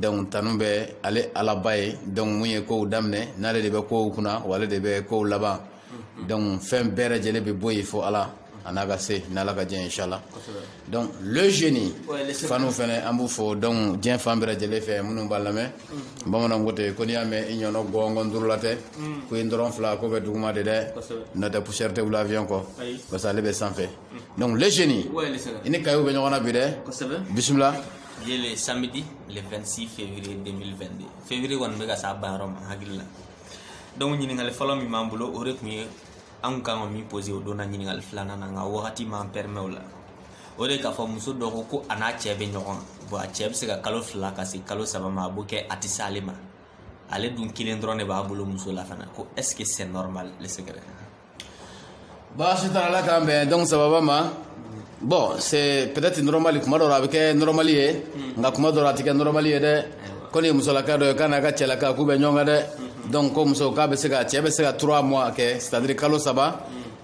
donc tanu bɛ ale alaba ye donc mun ye kow daminɛ n'ale de bɛ kow kunna wa ale de bɛ kow laban donc fɛn bɛɛ lajɛlen bɛ bɔ yen fo ala a n'a ka se n'ala ka diɲɛ inshallah donc le génie fanw fɛnɛ an b'u fo donc diɲɛ fan bɛɛ lajɛlen fɛ minnu b'an lamɛn mm. bamananw ko ten ko n'i y'a mɛn i ɲɔnɔ gɔngɔn duurula ten mm. ko i ntɔrɔn fila ko bɛ duguma de dɛ n'o tɛ poussière tɛ wuli avion kɔ parce que ale bɛ sanfɛ mm. donc le génie i ni kayiw bɛ ɲɔgɔn na bi dɛ bisimila ye le samedi le 26 février 2022 février kɔni bɛ ka s'a banyɔrɔ ma n hakili la donc ɲininkali fɔlɔ min b'an bolo o de tun ye an kun kan ka min pose o donna ɲininkali filanan na nka wagati m'an pɛrimɛ o la o de k'a fɔ muso dɔ ko ko a n'a cɛ bɛ ɲɔgɔn kan bon a cɛ bɛ se ka kalo fila ka se kalo saba ma a b'o kɛ a tɛ se ale ma ale dun kelen dɔrɔn de b'a bolo muso la fana ko est ce que c'est normal le secret baasi t'a la ala k'an bɛn donc sababa ma bon c'est peut-être normal kuma dɔ la a bɛ kɛ normal ye nka kuma dɔ la a tɛ kɛ normal ye dɛ ko nin ye musolaka dɔ ye k'a n'a ka cɛlaka k'u bɛ ɲɔgɔn kan dɛ donc ko muso k'a bɛ se ka cɛ bɛ se ka trois mois kɛ c'est-à-dire kalo saba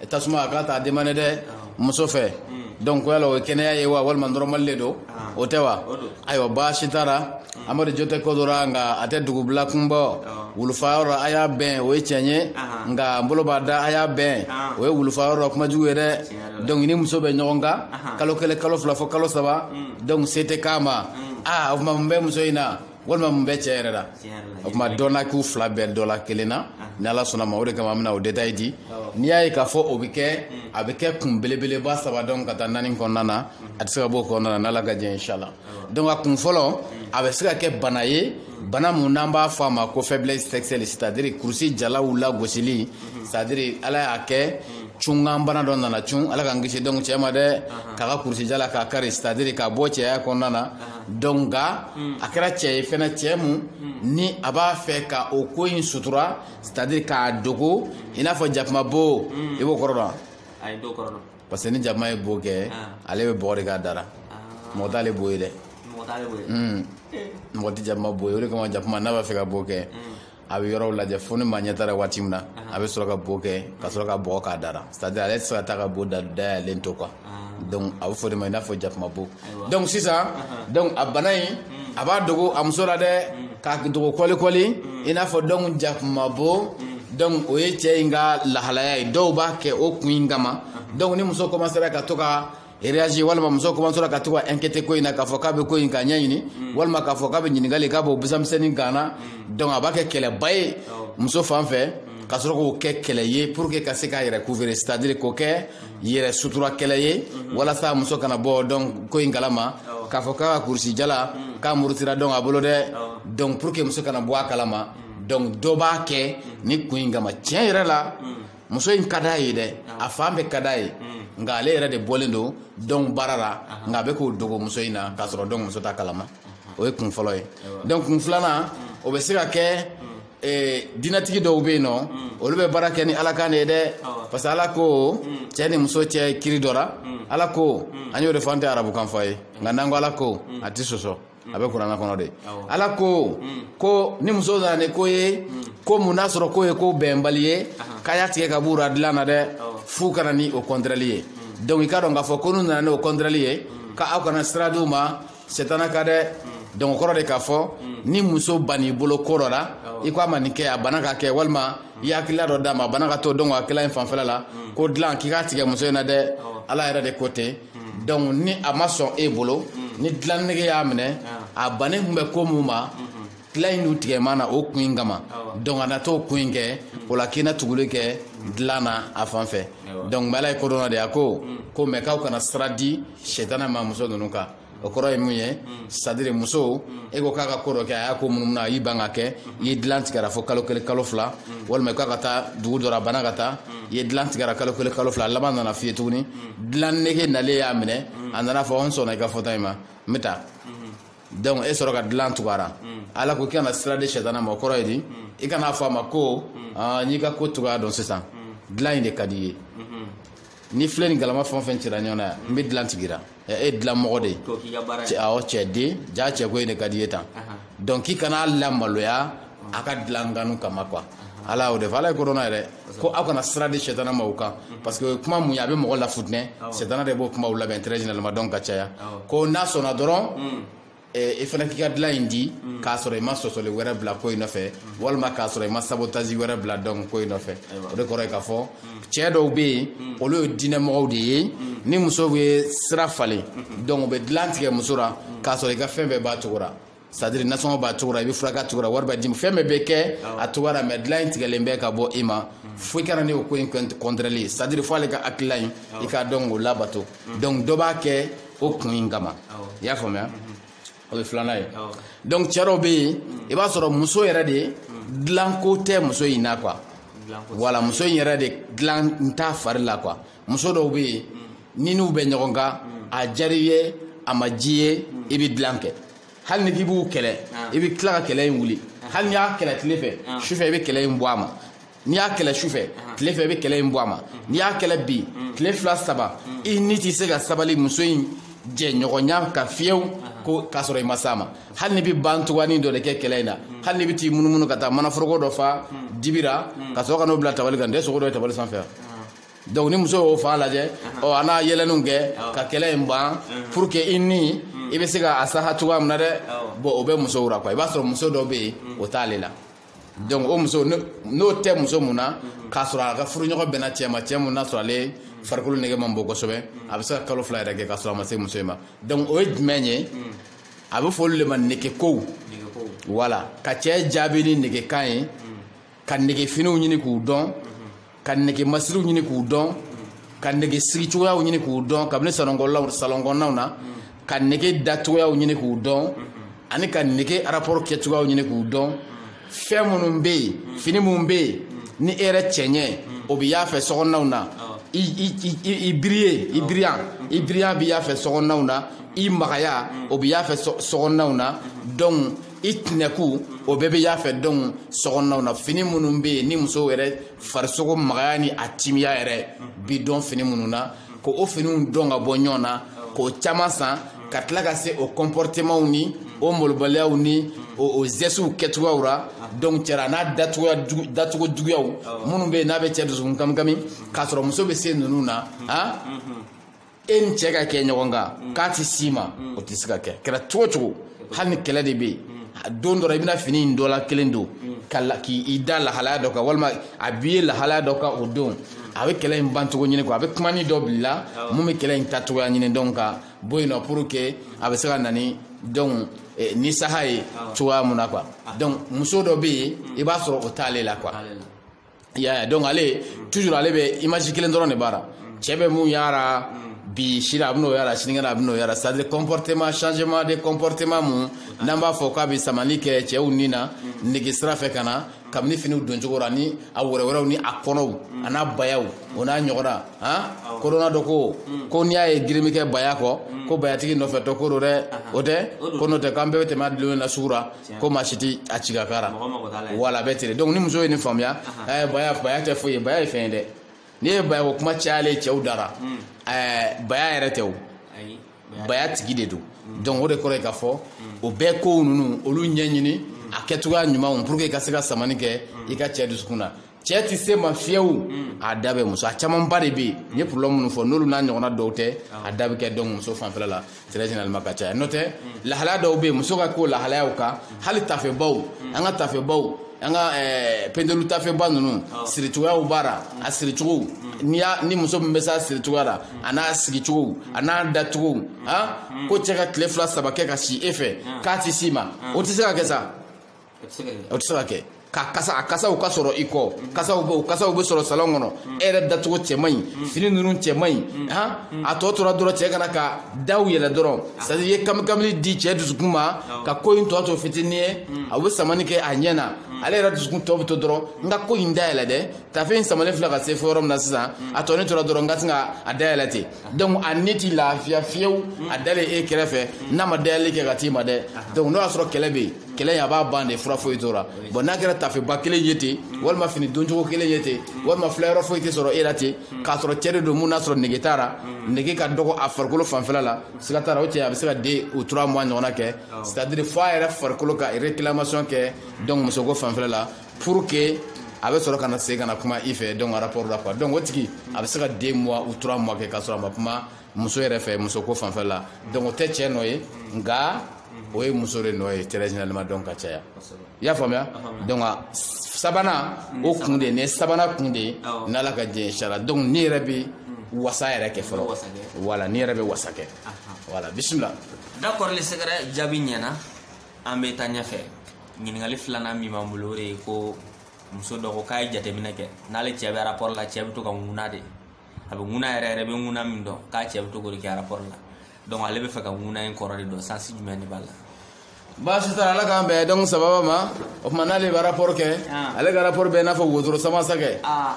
tasuma a k'a t'a demande dɛ muso fɛ donc ko yala o ye kɛnɛya ye wa walima normal de don o tɛ wa ayiwa baasi t'a la amadu jo tɛ ko dɔ ra nka a tɛ dugubila kunbɔ wulufa yɔrɔ a y'a bɛn o ye tiɲɛ ye nka n bolo b'a da a y'a bɛn o ye wulufa yɔrɔ kuma jugu ye dɛ donc i ni muso bɛ ɲɔgɔn kan kalo kelen kalo fila fo kalo saba donc se tɛ k'a ma aa o tuma mun bɛ muso in na walima mun bɛ cɛ yɛrɛ la o tuma dɔnna k'u fila bɛɛ dɔ la kelen na ni ala sɔnna ma o de kama an bɛna o detaye di n'i y'a ye k'a fɔ o bɛ kɛ a bɛ kɛ kun belebeleba saba donc ka taa naani kɔnɔna na a tɛ se ka bɔ o kɔnɔna na n'ala ka jɛn inshala donc a kun fɔlɔ a bɛ se ka kɛ bana ye bana mun n'an b'a fɔ a ma ko faiblesse sexuelle c'est à dire kurusi jalaw lagosili c'est à dire ala y'a kɛ cunkan bana dɔ nana cun ala k'an kisi donc cɛ ma dɛ k'a ka kurusi jala k'a kari c'est à dire k'a bɔ cɛya kɔnɔna na donc nka a kɛra cɛ ye fɛnɛ cɛ mun ni a b'a fɛ ka o ko in sutura c'est à dire k'a dogo i n'a fɔ jakuma bo i b'o kɔrɔ dɔn ayi n t'o kɔrɔ dɔn parce que ni jakuma ye bo kɛ ale bɛ bɔgɔ de k'a da ra mɔgɔ t'ale bo ye dɛ mɔgɔ tɛ jakuma bo ye o de kama jakuma n'a b'a fɛ ka bo kɛ a bɛ yɔrɔw lajɛ fo ni maa ɲɛ t'a ra waati min na a bɛ sɔrɔ ka bo kɛ ka sɔrɔ ka bɔgɔ k'a da ra c'est à dire ale tɛ se ka taa ka bo da dayɛlɛlen to quoi donc a bɛ fɔ o de ma i n'a fɔ jakuma bo donc sisan donc a bana in a b'a dogo a muso la dɛ k'a dogo kɔlikɔli i n'a fɔ donc jakuma bo donc o ye cɛ in ka lahalaya ye dɔw b'a kɛ o kun in kama donc ni muso commencera ka to ka réagir walima muso kɔmansera ka to ka inquiéter ko in na k'a fɔ k'a bɛ ko in ka ɲɛɲini mm. walima k'a fɔ k'a bɛ ɲininkali k'a b'o busamisɛnnin kan na mm. donc a b'a kɛ kɛlɛba ye muso fan fɛ mm. ka sɔrɔ k'o kɛ kɛlɛ ye pour que ka se k'a yɛrɛ couvrir c'est à dire k'o kɛ yɛrɛ sutura kɛlɛ ye mm-hmm. walasa muso kana bɔ donc ko in kalama k'a fɔ k'a ka kurusi jala k'a murutira donc a bolo dɛ donc pour que muso kana bɔ a kalama donc dɔ b'a kɛ ni kun in kama tiɲɛ yɛrɛ la muso in ka d'a ye dɛ a fan bɛɛ ka d'a ye mm. nka ale yɛrɛ de bɔlen don donc baara la nka a bɛ ko dogo muso in na k'a sɔrɔ donc muso t'a kalama o ye kun fɔlɔ ye donc kun filanan mm. o bɛ se ka kɛ mm. eh, dinatigi dɔw bɛ yen nɔ olu bɛ baara kɛ ni ala kan de ye dɛ parce que ala ko cɛ ni muso cɛ kiri dɔ la ala ko an y'o de fɔ an tɛ arabukan fɔ a ye nka n'an ko ala ko a tɛ sɔsɔ a bɛ kurana kɔnɔ de ala ko mm. ko ni muso nana ni ko ye mm. ko mun n'a sɔrɔ ko ye ko bɛnbali ye k'a y'a tigɛ ka b'u ra dilan na dɛ f'u ka na ni o contraire ye mm. donc i k'a dɔn k'a fɔ ko n'u nana n'o contraire ye ka aw kana sira d'u ma sɛtana ka dɛ donc o kɔrɔ de k'a fɔ ni muso ban'i bolo ko dɔ la i ko a ma nin kɛ a banna k'a kɛ walima i ye hakilila dɔ d'a ma a banna k'a to donc hakilila in fanfɛla la ko dilan k'i k'a tigɛ muso in na dɛ ala yɛrɛ de ko ten donc ni a ma sɔn e bolo ni dilan nege y'a minɛ a bannen tun bɛ ko min ma dilan in dun tigɛlen b'a na o kun in kama donc a na t'o kun in kɛ o la k'i na tuguli kɛ dilan na a fan fɛ donc ala ye kodɔnna de a ko ko mais k'aw kana sira di sɛtana ma muso ninnu kan o kɔrɔ ye mun ye c'est à dire muso e ko k'a ka ko dɔ kɛ a y'a ko munumunu a y'i ban k'a kɛ i ye dilan tig'a ra fo kalo kelen kalo fila walima k'a ka taa dugu dɔ la a banna ka taa i ye dilan tig'a ra kalo kelen kalo fila laban nana f'i ye tuguni dilan nege nalen y'a minɛ a nana fɔ n sɔnna i ka fɔta in ma n bɛ taa donc e sɔrɔ ka dilan tug'a ra ala ko k'i kana sira di sɛtana ma o kɔrɔ ye di i kana fɔ a ma ko n y'i ka ko cogoya dɔn sisan dilan in de ka d'i ye ni filen ni galama fɛn o fɛn cira ɲɔgɔn na yan n bɛ dilan tig'i ra e dilan mɔgɔ de ye awɔ cɛ den ja cɛko in de ka d'i ye tan donc k'i kan'a lamaloya a ka dilan kanu kama quoi ala y'o de fɔ ala ye kodɔnna yɛrɛ ko aw kana sira di sɛtana ma u kan parce que kuma mun ye a bɛ mɔgɔ lafutinɛ sɛtana de b'o kumaw labɛn très généralement donc ka caya ko n'a sɔnna dɔrɔn i fana k'i ka dilan in di k'a sɔrɔ i ma sɔsɔli wɛrɛ bila ko in nɔfɛ walima k'a sɔrɔ i ma sabotage wɛrɛ bila donc ko in nɔfɛ o de kɔrɔ ye k'a fɔ cɛ dɔw bɛ yen olu ye diinɛmɔgɔw de ye ni muso ye sira falen donc u bɛ dilan tigɛ muso la k'a sɔrɔ i ka fɛn bɛɛ b'a cogo la c'est à dire nasɔngɔ b'a cogo la i bɛ furakɛ a cogo la wari bɛ d'i ma fɛn bɛɛ bɛ kɛ a cogo la mais dilan in tigɛlen bɛ ka bɔ i ma fo i ka na ni o ko in contraire ye c'est à dire fo ale ka hakilila in i k'a dɔn k'o labato donc dɔ b'a kɛ o kun in kama i y'a faamuya o ye filanan ye donc cɛ dɔw bɛ yen i b'a sɔrɔ muso yɛrɛ de dilanko tɛ muso in na quoi voilà muso in yɛrɛ de dilan in t'a fari la quoi muso dɔw bɛ yen n'i n'u bɛ ɲɔgɔn kan a diyara i ye a ma diy'i ye i bɛ dilan kɛ hali n'i k'i b'u kɛlɛ ah. i bɛ tila ka kɛlɛ in wuli ah. hali n'i y'a kɛlɛ tile fɛ ah. sufɛ i bɛ kɛlɛ in bɔ a ma n'i y'a kɛlɛ sufɛ tile fɛ i bɛ kɛlɛ in bɔ a ma mm. n'i y'a kɛlɛ bi mm. tile fila saba mm. i ni tɛ se ka sabali muso in jɛɲɔgɔnya kɔ fiyewu ko k'a sɔrɔ i ma s'a ma hali n'i bɛ ban tugani dɔ de kɛ kɛlɛ in na hali n'i bɛ t'i munumunu ka taa manaforoko dɔ fa dibi ra ka sɔrɔ ka n'o bila tabali kan n tɛ sogo dɔ ye tabali sanfɛ donc ni muso y'o fan lajɛ ɔ a n'a yɛlɛninw kɛ ka kɛlɛ in ban pour que i ni i bɛ se ka a saha cogoya min na dɛ bon o bɛ musow la quoi i b'a sɔrɔ muso dɔ bɛ yen o t'ale la donc o muso nɔ tɛ muso mun na k'a sɔrɔ a ka furuɲɔgɔn bɛnna cɛ ma cɛ mun n'a sɔrɔ ale farikolo nege man bon kosɛbɛ a bɛ se ka kalo fila yɛrɛ kɛ k'a sɔrɔ a ma se muso in ma donc o ye jumɛn ye a bɛ fɔ olu de ma negekow voilà ka cɛ jaabi ni negekan ye ka negefiniw ɲini k'u dɔn ka nege masiriw ɲini k'u dɔn ka nege sigi cogoyaw ɲini k'u dɔn kabini salɔnkɔnɔnaw na ka nege da cogoyaw ɲini k'u dɔn ani ka nege rapport kɛ cogoyaw ɲini k'u dɔn fɛn minnu bɛ yen fini minnu bɛ yen ni e yɛrɛ cɛɲɛ o bɛ y'a fɛ sokɔnɔnaw na i i i i biriye i biriya i biriyan bɛ y'a fɛ sokɔnɔnaw na i magaya o bɛ y'a fɛ sokɔnɔnaw na donc i tinɛku o bɛɛ bɛ y'a fɛ donc sokɔnɔnaw na fini minnu bɛ yen ni muso yɛrɛ farisogo magaya ni a timiya yɛrɛ bɛ dɔn fini minnu na k'o finiw dɔn ka bɔ ɲɔgɔn na k'o caman san ka tila ka se o kɔnpɔritemanw ni o malobaliyaw ni o o zɛsiw kɛcogoyaw la donc cɛ ra n'a dacogo juguyaw minnu bɛ yen n'a bɛ cɛ dusukun kamikami k'a sɔrɔ muso bɛ se ninnu na han e ni cɛ ka kɛ ɲɔgɔn kan k'a tɛ s'i ma o tɛ se ka kɛ kɛra cogo cogo hali ni kɛlɛ de bɛ yen don dɔ la i bɛna fini in dɔ la kelen don ka la k'i da lahalaya dɔ kan walima a b'i ye lahalaya dɔ kan o don a bɛ kɛlɛ in bancogo ɲini quoi a bɛ kumani dɔ bila mun bɛ kɛlɛ in tacogoya ɲini donc ka bɔ yen nɔ pour que a bɛ se ka na ni donc eh, ni saha ye cogoya mun na quoi donc muso dɔ bɛ yen i b'a sɔrɔ o t'ale la quoi. ya donc ale toujours ale bɛ image kelen dɔrɔn de b'a ra cɛ bɛ mun y'a ra bi sini a bɛn'o y'a ra sinikɛnɛ a bɛn'o y'a ra c'est à dire comportement changement de comportement mun n'an b'a fɔ k'a bɛ samali kɛ cɛw ni na nege sira fɛ ka na kabini finiw doncogo la ni a wɛrɛwɛrɛw ni a kɔnɔw a n'a bayaw o n'a ɲɔgɔnna han kodɔnna dɔ ko ko n'i y'a ye girin bɛ kɛ baya kɔ ko bayatigi nɔfɛ tɔ ko don dɛ o tɛ ko n'o tɛ k'an bɛɛ bɛ tɛmɛ a dulonnen na sugu la ko maa si tɛ a ci ka k'a la voilà a bɛ ten donc ni muso ye nin faamuya ɛɛ eh, baya baya tɛ foyi ye baya ye fɛn ye dɛ n'i ye baya ko kuma cayalen cɛw da ra ɛɛ hmm. eh, baya yɛrɛ tɛ o baya tigi de don hmm. donc o de kɔrɔ ye k'a fɔ hmm. o bɛɛ kow ninnu olu ɲɛɲini a kɛcogoya ɲumanw pour que i ka se ka samani kɛ i ka cɛ dusukun na cɛ tɛ se ma fiyewu mm. a da bɛ muso a camanba de bɛ yen n ye problème minnu fɔ n'olu n'a ɲɔgɔnna dɔw tɛ ah. a da bɛ kɛ donc muso fanfɛla la très généralement ka caya n'o tɛ mm. lahalaya dɔw bɛ yen muso ka ko lahalayaw kan mm. hali tafebaw an ka tafebaw an ka eh, pendelu tafeba ninnu ah. siricogoyaw b'a la a siricogow n'i y'a ni muso min bɛ s'a siricogoya la a n'a sigicogow a n'a dacogow ah, ko cɛ ka tile fila saba kɛ ka si e fɛ k'a tɛ s'i ma o tɛ se ka kɛ sa o tɛ se ka kɛ ka kasa a kasaw ka sɔrɔ i kɔ kasaw bɛ o kasaw bɛ sɔrɔ salon kɔnɔ e yɛrɛ dacogo cɛ man ɲi fini ninnu cɛ man ɲi han a tɔ tora dɔrɔn cɛ ka na ka daw yɛlɛ dɔrɔn c'est à dire i ye kamikamili di cɛ dusukun ma ka ko in tɔ to fitinin ye a bɛ samani kɛ a ɲɛ na ale yɛrɛ dusukun tɔ bɛ to dɔrɔn n ka ko in dayɛlɛ dɛ tafe in samalen filɛ ka se fo yɔrɔ min na sisan a tɔ ne tora dɔrɔn n ka sin ka a dayɛlɛ ten donc a ne t'i lafiya fiyewu a dalen e kɛrɛfɛ n'a ma dayɛlɛli kɛ ka t'i ma dɛ donc n'o y'a sɔrɔ kɛlɛ bɛ yen kɛlɛ in a b'a ban de fura foyi t'o ra bon n'a kɛra tafeba kelen ye ten walima fini doncogo kelen ye ten walima filayɔrɔ foyi tɛ sɔrɔ e la ten k'a sɔrɔ cɛ de don mun n'a sɔrɔ nege t'a la nege ka dɔgɔ a farikolo fanfɛla la siga t'a la o cɛ a bɛ se ka den o tura mois ɲɔgɔnna kɛ c'est à dire fo a yɛrɛ farikolo ka réclamation kɛ donc musoko fanfɛla la pour que a bɛ sɔrɔ ka na segin ka na kuma i fɛ donc rapport la quoi donc o tigi a bɛ se ka deux mois ou trois mois kɛ k'a sɔrɔ a ma kuma muso yɛrɛ fɛ musoko fanfɛ la donc o tɛ cɛ nɔ ye nka o ye muso de nɔ ye très généralement donc ka caya i y'a faamuya donc sabanan o kun de ne sabanan kun de ye n'ala ka diɲɛ inchallah donc nin yɛrɛ bɛ hmm. wasa yɛrɛ kɛ fɔlɔ voilà nin yɛrɛ bɛ wasa kɛ voilà bisimila d'accord le secret jaabi ɲɛna an bɛ taa ɲɛfɛ ɲininkali filanan min b'an bolo o de ye ko muso dɔ ko k'a ye jateminɛ kɛ n'ale cɛ bɛ rapport la cɛ bɛ to ka ŋuna de a bɛ ŋuna yɛrɛ yɛrɛ bɛ ŋuna min dɔn k'a cɛ bɛ to k'o de kɛ rapport la donc ale b'a fɛ ka ŋuna in kɔrɔ de dɔn sens jumɛn de b'a la baasi t'a la ala k'an bɛn donc sababa ma o tuma n'ale bɛ rapport kɛ Ah. ale ka rapport bɛ i n'a fɔ wotoro sama sa kɛ aa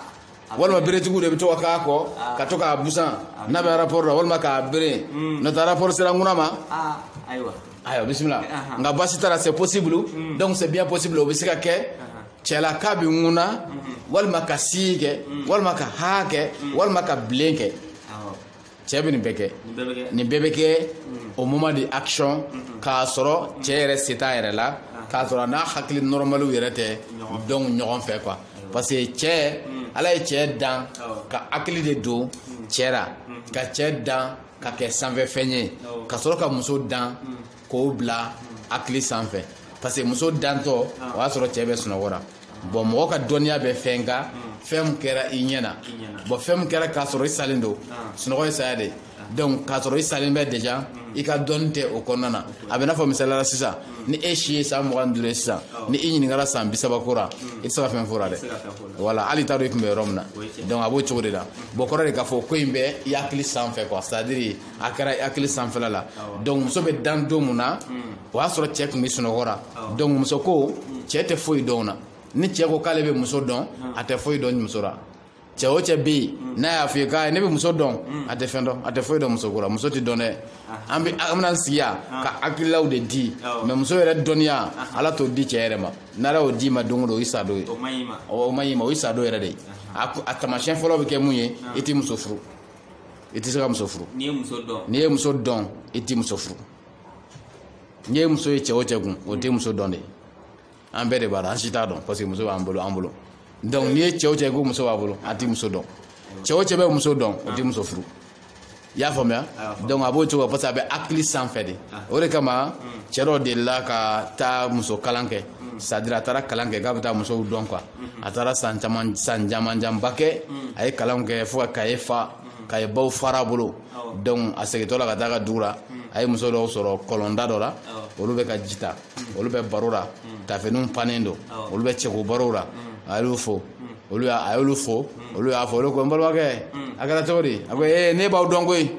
walima beretigiw de bɛ to ka k'a kɔ ka to k'a busan n'a bɛ rapport la walima k'a bere n'o tɛ rapport sera ŋuna ma aa ayiwa ayiwa bisimila Ahan. nka baasi t'a la c'est possible donc c'est bien possible o bɛ se ka kɛ cɛla k'a bɛ ŋuna walima ka sii kɛ walima ka haa kɛ walima ka bilen kɛ cɛɛ bɛ nin bɛɛ kɛ nin bɛɛ bɛ kɛ au moment de action k'a sɔrɔ cɛɛ yɛrɛ se t'a yɛrɛ la k'a sɔrɔ a n'a hakili normaliw yɛrɛ tɛ donc ɲɔgɔn fɛ quoi parce que cɛɛ ala ye cɛɛ dan ka hakili de don cɛɛ ra ka cɛɛ dan ka kɛ sanfɛfɛn ye ka sɔrɔ ka muso dan k'o bila hakili sanfɛ parce que muso dantɔ o y'a sɔrɔ cɛ bɛ sunɔgɔ ra bon mɔgɔ ka dɔnniya bɛ fɛn kan fɛn min kɛra i ɲɛ na bon fɛn min kɛra k'a sɔrɔ i salen don sunɔgɔ ye saya de ye donc k'a sɔrɔ i salen bɛ déjà i ka dɔnni tɛ o kɔnɔna na a bɛ n'a fɔ misaliya la sisan ni e si ye san mugan ni duuru ye sisan ni i ɲininkara san bi saba ko ra i tɛ se ka fɛn fɔ o la dɛ voilà hali i t'a dɔn i tun bɛ yɔrɔ min na donc a b'o cogo de la bon kɔrɔ de k'a fɔ ko in bɛ i hakili sanfɛ quoi c'est à dire a kɛra hakili sanfɛla la donc muso bɛ dan don mun na o y'a sɔrɔ cɛ tun bɛ sunɔgɔ ra donc muso ko cɛ tɛ foyi dɔn o na ni cɛ ko k'ale bɛ muso dɔn a tɛ foyi dɔn muso la cɛ o cɛ bɛ yen n'a y'a f'i ye k'ale bɛ muso dɔn a tɛ fɛn dɔn a tɛ foyi dɔn muso ko la muso tɛ dɔn dɛ an bɛ an bɛna sigi yan ka hakililaw de di mais muso yɛrɛ dɔnniya ala t'o di cɛ yɛrɛ ma n'ala y'o d'i ma don o don o y'i sadon ye o man ɲ'i ma o y'i sadon yɛrɛ de ye a taamasiyɛn fɔlɔ bɛ kɛ mun ye i tɛ muso furu i tɛ se ka muso furu n'i ye muso dɔn n'i ye muso dɔn i tɛ muso furu n'i ye muso ye cɛ o cɛ kun o tɛ muso dɔn de an bɛɛ de b'a la an si t'a dɔn parce que muso b'an bolo an bolo donc n'i ye cɛ o cɛ ko muso b'a bolo a tɛ muso dɔn cɛ o cɛ bɛ muso dɔn o tɛ muso furu i y'a faamuya donc a b'o cogo parce que a bɛ hakili sanfɛ de o de kama cɛ dɔ delila ka taa muso kalan kɛ c'est à dire a taara kalan kɛ k'a bɛ taa musow dɔn quoi a taara san caman camanba kɛ a ye kalanw kɛ fo ka kaye fa kaye baw fara a bolo donc a segintɔ la ka taa a ka dugu la a ye muso dɔw sɔrɔ kɔlɔnda dɔ la olu bɛ ka ji ta olu bɛ baro la tafiniw pannen don olu bɛ cɛko barow la a y'olu fo olu y'a a y'olu fo olu y'a fɔ olu ko n balimakɛ a kɛra cogo di a ko ee ne b'aw dɔn koyi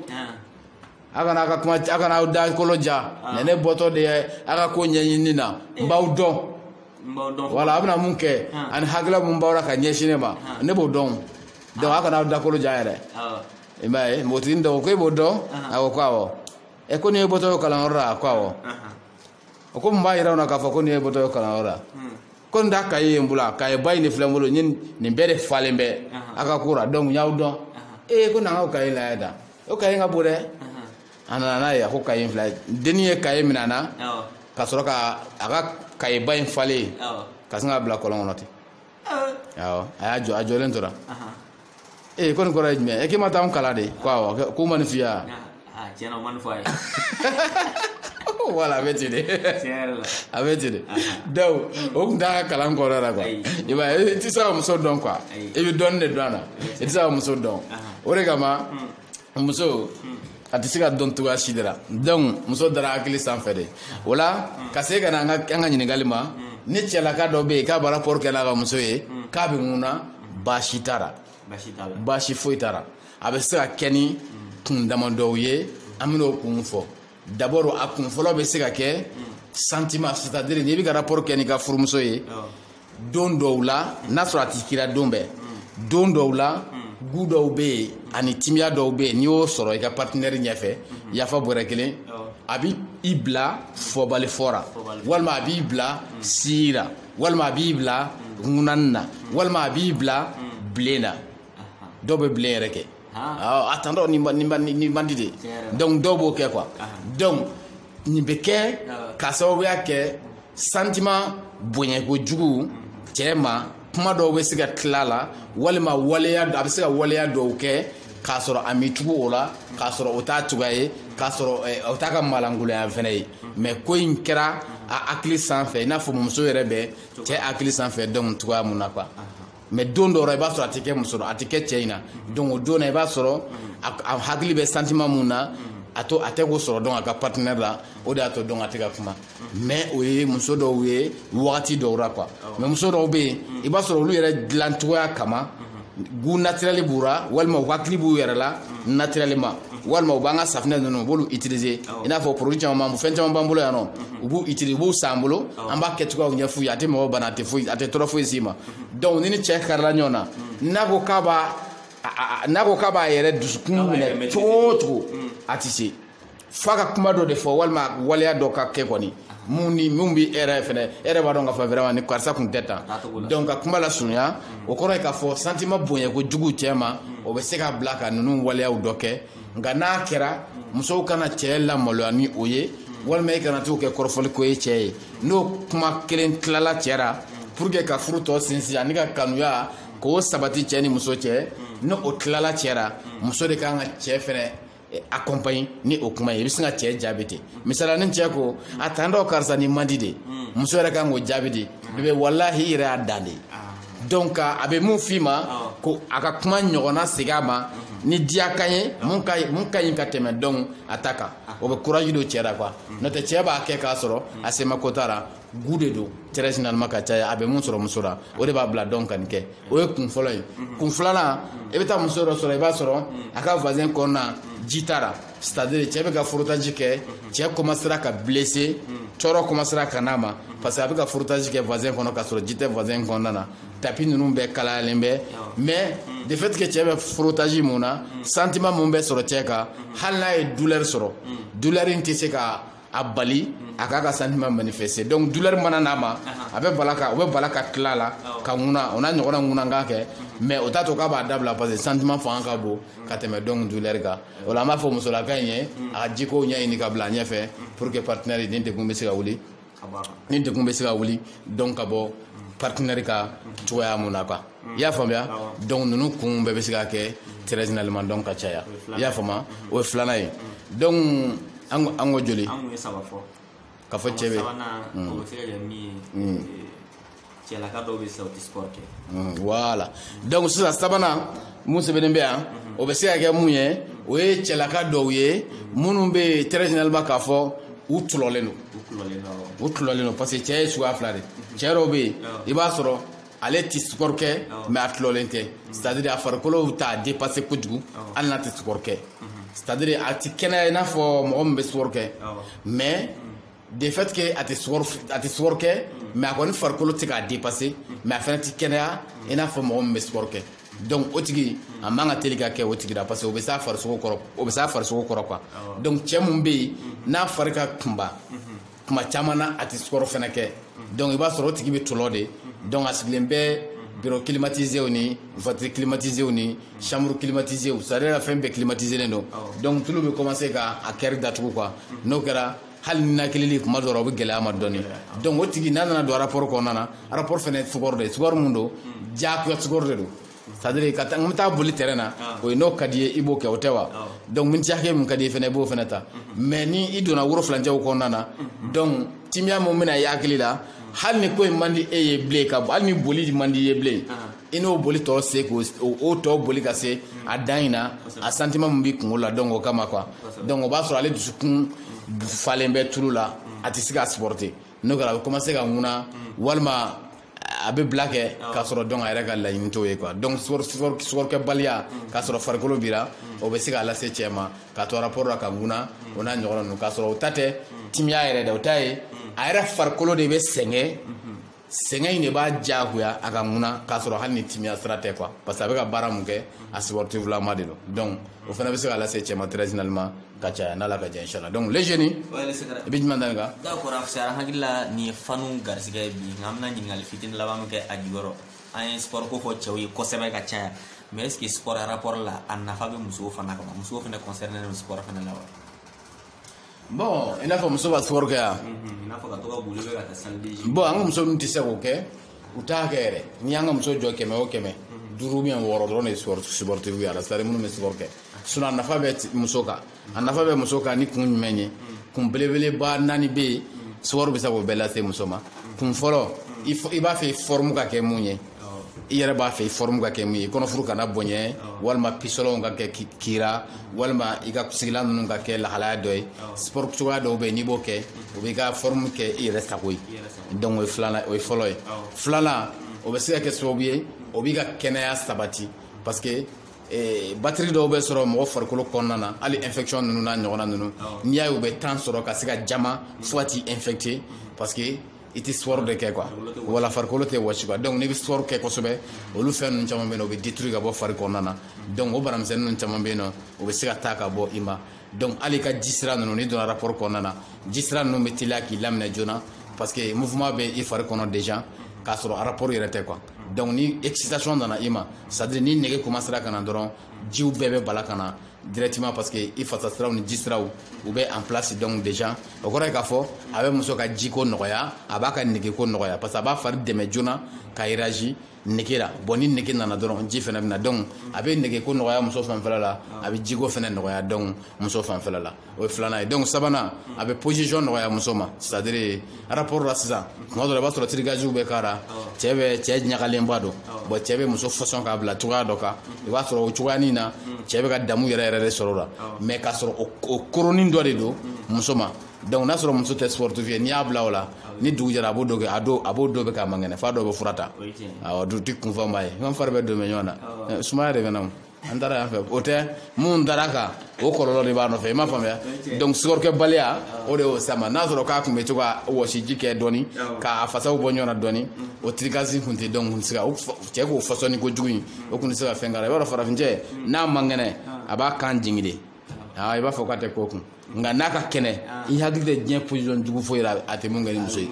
a kana a ka kuma a kana aw da kolo ja ne ne bɔtɔ de ye a ka ko ɲɛɲini na n b'aw dɔn wala a bɛna mun kɛ ani hakilila mun b'aw la ka ɲɛsin ne ma ne b'o dɔn donc a kana aw da kolo ja yɛrɛ i m'a ye npogotigini dɔ ko e b'o dɔn a ko ko awɔ ɛ ko nin y'e bɔtɔ y'o kalanyɔrɔ la a ko awɔ o ko mun b'a yira u la k'a fɔ ko nin y'e bɔtɔ ye kalanyɔrɔ la ko nin t'a kaye ye n bolo a kaye ba in de filɛ n bolo n ye nin bɛɛ de falen bɛ a ka ko la donc n y'aw dɔn ee ko na n k'o kaye lajɛ da o kaye ka bon dɛ a nana n'a ye a ko kaye in filɛ dennin ye kaye minɛ a na ka sɔrɔ ka a ka kaye ba in falen ka sin k'a bila kɔlɔn kɔnɔ ten a y'a jɔ a jɔlen tora ee ko nin kɔrɔ ye jumɛn ye k'i ma taa an kalan de ko awɔ k'u ma nin f'i ye wa tiɲɛ na o ma nin fɔ a ye voilà a bɛ ten de a bɛ ten de donc o tun t'a ka kalan kɔnɔ la quoi i b'a ye i tɛ se ka muso dɔn quoi i bɛ dɔɔnin de dɔn a la i tɛ se ka muso dɔn o de kama muso a tɛ se ka dɔn cogoya si de la donc muso dara hakili sanfɛ de voilà ka se ka na an ka ɲininkali ma ni cɛlaka dɔ bɛ yen k'a bɛ rapport kɛ n'a ka muso ye k'a bɛ ŋuna baasi t'a la baasi foyi t'a la a bɛ se ka kɛ ni kun damadɔw ye an bɛn'o kun fɔ d'abord a kun fɔlɔ bɛ se ka kɛ sentiment c'est à dire n'i bɛ ka rapport kɛ n'i ka furumuso ye don dɔw la n'a sɔrɔ a tɛ k'i ra don bɛɛ don dɔw la goût dɔw bɛ yen ani timiya dɔw bɛ yen n'i y'o sɔrɔ i ka partenaire ɲɛfɛ yafa bɔrɛ kelen a bɛ i bila fɔbali fɔ ra walima a b'i bila si la walima a b'i bila ŋunan na walima a b'i bila bilen na dɔw bɛ bilen yɛrɛ kɛ a tantɔ nin man di de donc dɔw b'o kɛ quoi donc nin bɛ kɛ ka sababuya kɛ sentiment bonyakojugu cɛ ma kuma dɔw bɛ se ka tila a la walima waleya a bɛ se ka waleya dɔw kɛ k'a sɔrɔ a m'i tugu o la k'a sɔrɔ o t'a cogoya ye k'a sɔrɔ eh, o t'a ka maalankolonya fana ye mais ko in kɛra a hakili sanfɛ i n'a fɔ muso yɛrɛ bɛ cɛ hakili sanfɛ donc cogoya mun na quoi mais don dɔw la i b'a sɔrɔ a tɛ kɛ muso a tɛ kɛ cɛ in na donc o don na i b'a sɔrɔ a hakili bɛ sentiment mun na a t'o a tɛ k'o sɔrɔ donc a ka partenaire la o de y'a to donc a tɛ ka kuma mais o ye muso dɔw ye wagati dɔw la quoi mais muso dɔw bɛ yen i b'a sɔrɔ olu yɛrɛ dilan cogoya kama goût naturel b'u la walima u hakili b'u yɛrɛ la naturellement walima u b'an ka safinɛ ninnu u b'olu utiliser i n'a fɔ produit caman b'an fɛn caman b'an bolo yan nɔ u b'u utiliser u b'u san an bolo an b'a kɛcogoyaw ɲɛf'u ye a tɛ mɔgɔ bana a tɛ foyi a tɛ tɔɔrɔ foyi s'i ma donc ni ni cɛ karila ɲɔgɔn na n'a ko k'a b'a n'a ko k'a b'a yɛrɛ dusukun minɛ cogo o cogo a tɛ se f'a ka kuma dɔ de fɔ walima waleya dɔ ka kɛ kɔni mun ni mun bɛ e yɛrɛ fɛnɛ e yɛrɛ b'a dɔn k'a fɔ vraiment ni karisa kun tɛ tan donc ka kuma lasurunya o kɔrɔ ye k'a fɔ sentiment bonyakojugu cɛ ma o bɛ se k'a bila ka ninnu waleyaw dɔ kɛ nka n'a kɛra musow kana cɛ lamaloya ni o ye walima i kana t'o kɛ kɔrɔfɔliko ye cɛ ye n'o kuma kelen tilala cɛ ra pour que ka furu tɔ sinsin ani ka kanuya k'o sabati cɛ ni muso cɛ ni o tilala cɛ ra muso de kan ka cɛ fɛnɛ eh, accompagne ni o kuma ye i bɛ sin ka cɛ jaabi ten misala ni cɛ ko a tantɔ karisa nin man di de muso yɛrɛ kan k'o jaabi de bébé walahi i yɛrɛ y'a dan de ye donc a bɛ mun f'i ma ah. ko a ka kuma ɲɔgɔnna segin a ma mhm. ni diya kan ye ah. mun ka mun ka ɲi ka tɛmɛ donc a ta kan ah. o bɛ courage don cɛ la quoi mhm. n'o tɛ cɛ b'a kɛ k'a sɔrɔ mhm. a sema ko t'a la goût de don très généralement ka caya a bɛ mun sɔrɔ muso la o de b'a bila donc ka nin kɛ o ye kun fɔlɔ ye kun filanan i bɛ taa muso dɔ sɔrɔ i b'a sɔrɔ a ka vagin kɔnɔna ji t'a la c'est à dire cɛ bɛ ka frottage kɛ cɛ commencera ka blesser tɔɔrɔ commencera ka n'a ma parce que a bɛ ka frottage kɛ vagin kɔnɔ k'a sɔrɔ ji tɛ vagin kɔnɔna na tapis ninnu bɛɛ kalayalen bɛ mais de fait que cɛ bɛ frottage mun na sentiment mun bɛ sɔrɔ cɛ kan hali n'a ye douleur sɔrɔ douleur in tɛ se ka a bali mhm. a k'a ka sentiment manifester donc douleur mana n'a ma a bɛ bala ka o bɛ bala ka tila la ka ŋuna o n'a ɲɔgɔnna ŋunankan kɛ mhm. mais o t'a to k'a b'a dabila parce que sentiment fanga ka bon mhm. ka tɛmɛ donc douleur kan o la an b'a fɔ musolaka in ye a ka jikow ɲɛɲini ka bila a ɲɛfɛ pour que partenaire ni degun bɛ se ka wuli ni degun bɛ se ka wuli donc ka bɔ partenaire ka cogoya mun na quoi i y'a faamuya donc ninnu kun bɛɛ bɛ se ka kɛ très généralement donc ka caya i y'a faamuya o ye filanan ye donc an ko joli ka fɔ cɛ bɛ cɛlaka dɔw bɛ sisan u tɛ sport kɛ voilà donc sisan sabanan mun sɛbɛnnen bɛ yan o bɛ se ka kɛ mun ye o ye cɛlaka dɔw ye minnu bɛ très généralement k'a fɔ u tulɔlen don u tulɔlen don parce que cɛ ye suguya fila de cɛ dɔw bɛ yen i b'a sɔrɔ ale tɛ sport kɛ mais a tulɔlen tɛ c'est à dire a farikolo t'a dépasser kojugu hali n'a tɛ sport kɛ c'est à dire a tɛ kɛnɛya i n'a fɔ mɔgɔ min bɛ sport kɛ mais de fait que a tɛ sport a tɛ sport kɛ mais a kɔni farikolo tɛ k'a dépasser mais a fana tɛ kɛnɛya i n'a fɔ mɔgɔ min bɛ sport kɛ donc o tigi a man ka teli ka kɛ o tigi la parce que o bɛ s'a farisogo kɔrɔ o bɛ s'a farisogo kɔrɔ quoi donc cɛ mun bɛ yen n'a fari ka kunba kuma caman na a tɛ sport fana kɛ donc i b'a sɔrɔ o tigi bɛ tɔlɔ de donc a sigilen bɛ bureau climatisew ni voiture climatisew ni chambre climatisew c'est à dire fɛn bɛɛ climatiselen don donc tulu bɛ commencer ka a cœur datugu quoi n'o kɛra hali ninakilili kuma dɔ la o bɛ gɛlɛya ma dɔɔni donc o tigi n'a nana don rapport kɔnɔna na rapport fana ye sport de ye sport mun don diyagoya sport de don c'est à dire ka n bɛ taa boli terrain na ah. o ye n'o ka di ye i b'o kɛ o tɛ wa ah. donc miniti hakɛ min ka di ye fana i b'o fana ta mhm. mais ni i donna woro filancɛw kɔnɔna na mhm. donc timiya min bɛna i hakili la mhm. hali ni ko in man di e ye bilen ka hali ni boli man di i ye bilen ah. i n'o boli tɔ se k'o o tɔ boli ka se a dan in na a sentiment min b'i kunkolo la donc o kama quoi donc o b'a sɔrɔ ale dusukun falen bɛ tulu la a tɛ se k'a supporter n'o kɛra a bɛ commencer ka ŋuna walima a bɛ bila kɛ k'a sɔrɔ donc a yɛrɛ ka laɲini t'o ye quoi donc sportkɛbaliya k'a sɔrɔ farikolo b'i ra o bɛ se k'a lase cɛ ma k'a to rapport la ka ŋuna o n'a ɲɔgɔnna ninnu k'a sɔrɔ o ta tɛ timiya yɛrɛ dɛ o ta ye a yɛrɛ farikolo de bɛ sɛgɛn sɛgɛn in de b'a diyagoya a ka ŋuna k'a sɔrɔ hali ni timiya sira tɛ quoi parce que a bɛ ka baara mun kɛ a sportif lama de don donc o fana bɛ se ka lase cɛ ma très généralement ka caya n'ala ka jɛn inshallah donc les jeunes i bɛ jumɛn dani kan d'accord afisara hakilila nin ye fanu garisigɛ ye bi nka an bɛna ɲininkali fitini laban min kɛ a jukɔrɔ an ye sport ko fɔ cɛw ye kosɛbɛ ka caya mais est ce que sport rapport la a nafa bɛ musow fana kama musow fana concerné don sport fana la wa bon i n'a fɔ muso ka sport kɛ yan bon an ka muso ninnu tɛ se k'o kɛ u t'a kɛ yɛrɛ n'i y'an ka muso jɔ kɛmɛ o kɛmɛ duuru ou bien wɔɔrɔ dɔrɔn de ye sportif ye a la c'est à dire minnu bɛ sport kɛ sinɔn a nafa bɛ muso kan a nafa bɛ muso kan ni kun jumɛn ye kun belebeleba naani bɛ yen sipɔri bɛ se k'o bɛɛ lase muso ma kun fɔlɔ i b'a fɛ fɔrɔmu ka kɛ mun ye i yɛrɛ b'a fɛ fɔrɔmu ka kɛ mun ye kɔnɔfuru kana bonya walima pisɔlɔnw ka kɛ kira walima i ka sigilan ninnu ka kɛ lahalaya dɔ ye sipɔri cogoya dɔw bɛ yen n'i b'o kɛ o b'i ka fɔrɔmu kɛ i yɛrɛ sago ye donc o ye filanan o ye fɔlɔ ye filanan o bɛ se ka kɛ sababu ye o b'i ka kɛnɛya sabati parce que Eh, bactérie dɔw bɛ sɔrɔ mɔgɔ farikolo kɔnɔna na hali infection ninnu n'a ɲɔgɔnna ninnu n'i y'a ye u bɛ temps sɔrɔ ka se ka jama fo ka t'i infecter parce que i tɛ sport de kɛ quoi wala farikolo tɛ wɔsi quoi donc n'i bɛ sport kɛ kosɛbɛ olu fɛn ninnu caman bɛ yen nɔ o bɛ détruire ka bɔ fari kɔnɔna na donc o banamisɛnnin ninnu caman bɛ yen nɔ o bɛ se ka taa ka bɔ i ma donc hali i ka ji sira ninnu n'i donna rapport kɔnɔna na ji sira ninnu bɛ teliya k'i laminɛ joona parce que mouvement bɛ i fari kɔnɔ déjà k'a sɔrɔ rapport yɛrɛ tɛ quoi donc ni excitation nana i ma c'est à dire ni nege commencera ka na dɔrɔn jiw bɛɛ bɛ bala ka na directement parce que i fasa siraw ni ji siraw u bɛ en place donc déjà o kɔrɔ ye k'a fɔ a bɛ muso ka jiko nɔgɔya a b'a ka negeko nɔgɔya parce que a b'a fari dɛmɛ joona ka réagir nege la bon ni nege nana dɔrɔn ji fɛnɛ bɛ na donc a bɛ negeko nɔgɔya muso fanfɛla la a bɛ jiko fɛnɛ nɔgɔya donc muso fanfɛla la o ye filanan ye donc sabanan a bɛ position nɔgɔya muso ma c'est à dire rapport la sisan tuma dɔ la i b'a sɔrɔ tirigaziw bɛ k'a la cɛ bɛ cɛ ɲagalenba don bon cɛ bɛ muso fɔsɔn k'a bila cogoya dɔ kan i b'a sɔrɔ o cogoyanin na cɛ bɛ ka damu yɛrɛ yɛrɛ de sɔrɔ o la mais k'a sɔrɔ o koronni dɔ de don muso ma donc n'a sɔrɔ muso tɛ sportif ye n'i y'a bila o la ni dugu jɛra a b'o don kɛ a dɔw a b'o don bɛɛ k'a man kɛnɛ f'a dɔw bɛ fura ta awɔ dutigi kunfanba ye n fari bɛɛ donnen bɛ ɲɔgɔn na sumaya de bɛ n na an taara yan fɛ o tɛ minnu dara a kan o kɔlɔlɔ de b'a nɔfɛ i m'a faamuya donc sport kɛbaliya o de y'o sama n'a sɔrɔ k'a tun bɛ to ka wɔsiji kɛ dɔɔni k'a fasaw bɔ ɲɔgɔn na dɔɔni o tirikasi tun tɛ donc kun tɛ se ka cɛ k'o fɔsɔnni kojugu in o tun tɛ se ka fɛn k'a la i b'a dɔn farafincɛ n'a man kɛnɛ a b'a kan jigin de i b'a fɔ k'a tɛ ko kun nka n'a ka kɛnɛ i hakili tɛ diɲɛ position jugu foyi la a tɛ min kɛ ni muso ye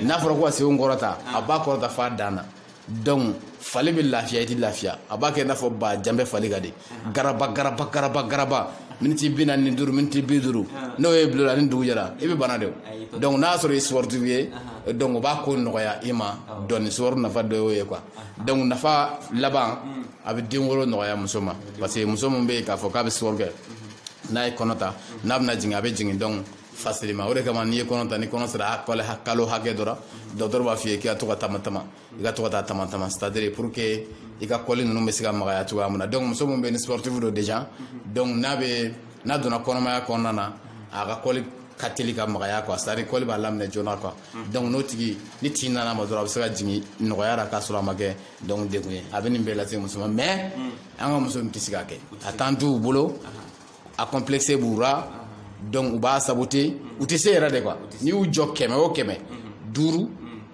n'a fɔra ko ka senw kɔrɔta a b'a kɔrɔta f'a dan na donc f'ale bɛ lafiya i tɛ lafiya a b'a kɛ i n'a fɔ ba janbɛ fali ka de garaba garaba garaba garaba miniti bi naani ni duuru miniti bi duuru n'o y'i bila o la ni dugu jɛra i bɛ bana de o donc n'a y'a sɔrɔ i sportif ye donc o b'a ko nɔgɔya i ma dɔɔni sport nafa dɔ y'o ye quoi donc nafa laban a bɛ den wolo nɔgɔya muso ma parce que muso min bɛ yen k'a fɔ k'a bɛ sport kɛ n'a ye kɔnɔ ta n'a bɛna jigin a bɛ jigin donc facilement o de kama n'i ye kɔnɔ ta ni kɔnɔ sera kalo hakɛ dɔ la dɔgɔtɔrɔ b'a f'i ye k'i ka to ka tama tama i ka to ka taa tama tama c'est à dire pour que i ka kɔli ninnu bɛ se ka magaya cogoya min na donc muso min bɛ ni sportif don déjà donc n'a bɛ n'a donna kɔnɔmaya kɔnɔna na a ka kɔli ka teli ka magaya quoi c'est à dire kɔli b'a laminɛ joona quoi donc n'o tigi ni tin nana ma dɔrɔn a bɛ se ka jigin nɔgɔya la k'a sɔrɔ a ma kɛ donc degun ye a bɛ nin bɛɛ lase muso ma mais an ka muso in tɛ se k'a kɛ a temps t'u bolo a complexe b'u ra donc u b'a saboter u tɛ se yɛrɛ de quoi n'i y'u jɔ kɛmɛ o kɛmɛ duuru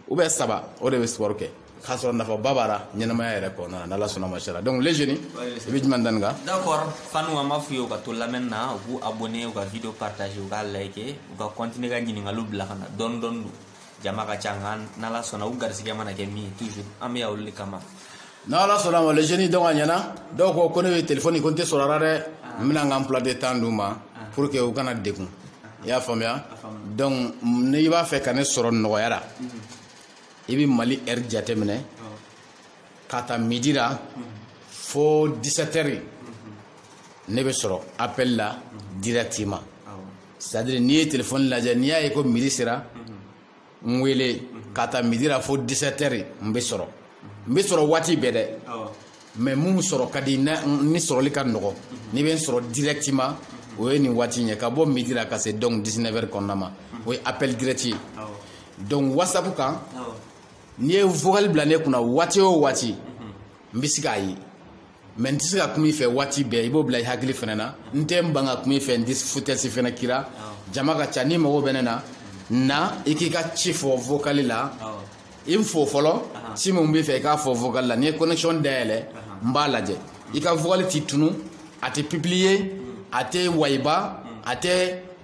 ou bien saba o de bɛ sport kɛ k'a sɔrɔ nafaba b'a la ɲɛnamaya yɛrɛ kɔnɔna na n'ala sɔnna masha Allah donc le jeune i bɛ jumɛn da nin kan d'accord fanw an b'a f'u ye u ka to lamɛnni na u k'u abonner u ka video partager u k'a liker u ka continuer ka ɲininkaliw bila ka na dɔɔni dɔɔni don jama ka ca nka n'ala sɔnna u garisigɛ mana kɛ min ye toujours an bɛ yan olu de kama n'ala sɔnna ma le jeune donc a ɲɛna dɔw ko ko ne bɛ telefɔni ko n tɛ sɔrɔ a la dɛ n bɛna n ka emploi de temps d'u ma pour que u kana degun i y'a faamuya donc n'i b'a fɛ ka ne sɔrɔ nɔgɔya la i bɛ mali heure jateminɛ ka ta midi la fo 17 heures ne bɛ sɔrɔ appel la directement c'est à dire n'i ye telefɔni lajɛ n'i y'a ye ko midi sera n wele ka ta midi la fo 17 heures n bɛ sɔrɔ n bɛ sɔrɔ waati bɛɛ dɛ mais min sɔrɔ ka di ni sɔrɔli ka nɔgɔ n'i bɛ n sɔrɔ directement o ye nin waati in ye ka bɔ midi la ka se donc 19 heures kɔnɔna ma o ye appel direct ye donc whatsapp kan n'i ye vocal bila ne kunna waati o waati n bɛ se k'a ye mais n tɛ se ka kuma i fɛ waati bɛɛ i b'o bila i hakili fana na n tɛ n ban ka kuma i fɛ n tɛ foutaise fana k'i ra jama ka ca n'i mago bɛ ne na na i k'i ka ci fɔ vocal la i n fo fɔlɔ ci min b'i fɛ i k'a fɔ vocal la ni n ye connexion dayɛlɛ n b'a lajɛ i ka vocal tɛ tunu a tɛ publier a tɛ wayiba a tɛ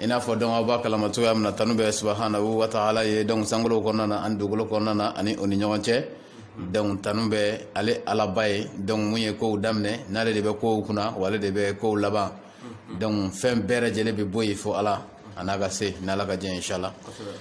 i n'a fɔ donc aw b'a kalama cogoya min na tanu bɛ subhanahu wa ta'ala ye donc sankolow kɔnɔna na ani dugukolo kɔnɔna na ani o ni ɲɔgɔn cɛ donc tanu bɛ ale alaba ye donc mun ye kow daminɛ n'ale de bɛ kow kunna wa ale de bɛ kow laban donc fɛn bɛɛ lajɛlen bɛ bɔ yen fo ala a n'a ka se n'ala ka jɛ inshala